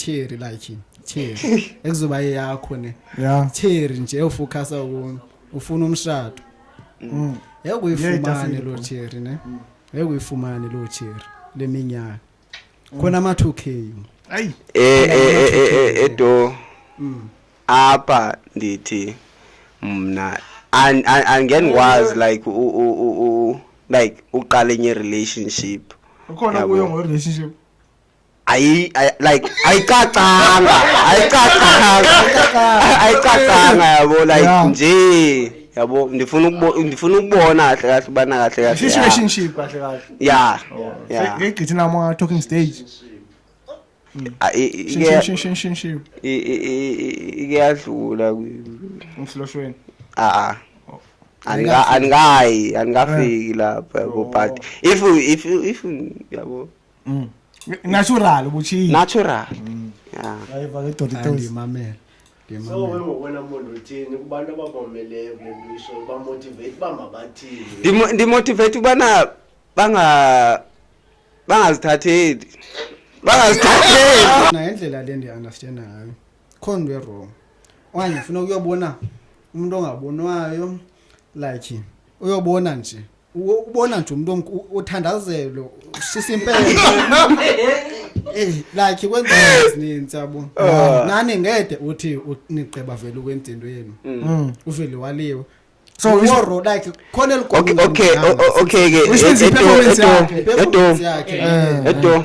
cherry like cherry ekuzoba eyakho ne yeah cherry nje ufocus ukuni ufuna umshado mm. ngeke uyifumane lo cherry ne ngeke uyifumane lo cherry leminyaka khona ama 2k ayi eh eh eh edo apha ndithi mna and angeni was like u u u like uqala enye relationship ukhona kuyo ngo relationship ayi ayi- like ayicacanga ayicacanga ayicacanga yabo like Yeah. nje yabo ndifuna ukubo ndifuna ukubona kahle kahle ubana kahle kahle yeah. Situationship kahle kahle. yeah yeah Ngigqithi nama talking stage. Ah, i- i- Shin ike- shin shin shin shin. i- i- i- i- ike yadlula kwi- Umfloshweni. ah ah. Andika- andikayi andikafiki lapho yabo but if you- if you- if you- yabo mm. natural ubuchiyi natural mm. yeah ayiva ke doti tozi mamela so wena muntu uthini kubantu ababomeleyo kule nto isho bamotivate uba mabathini ndimotivate ubana banga bangazithatheli bangazithatheli naye indlela le ndiyi-understanda ngayo khona into e-wrong okanye funa ukuyobona umuntu ongabonwayo like uyobona nje ubona nje umuntu othandazelo ushisa impela eh like kwenza izinto yabo ah. nani ngede uthi nigqeba vele ukwentendo yenu mm. mm. uvele waliwe so woro like khona eligogo okay okay okay ke edo edo edo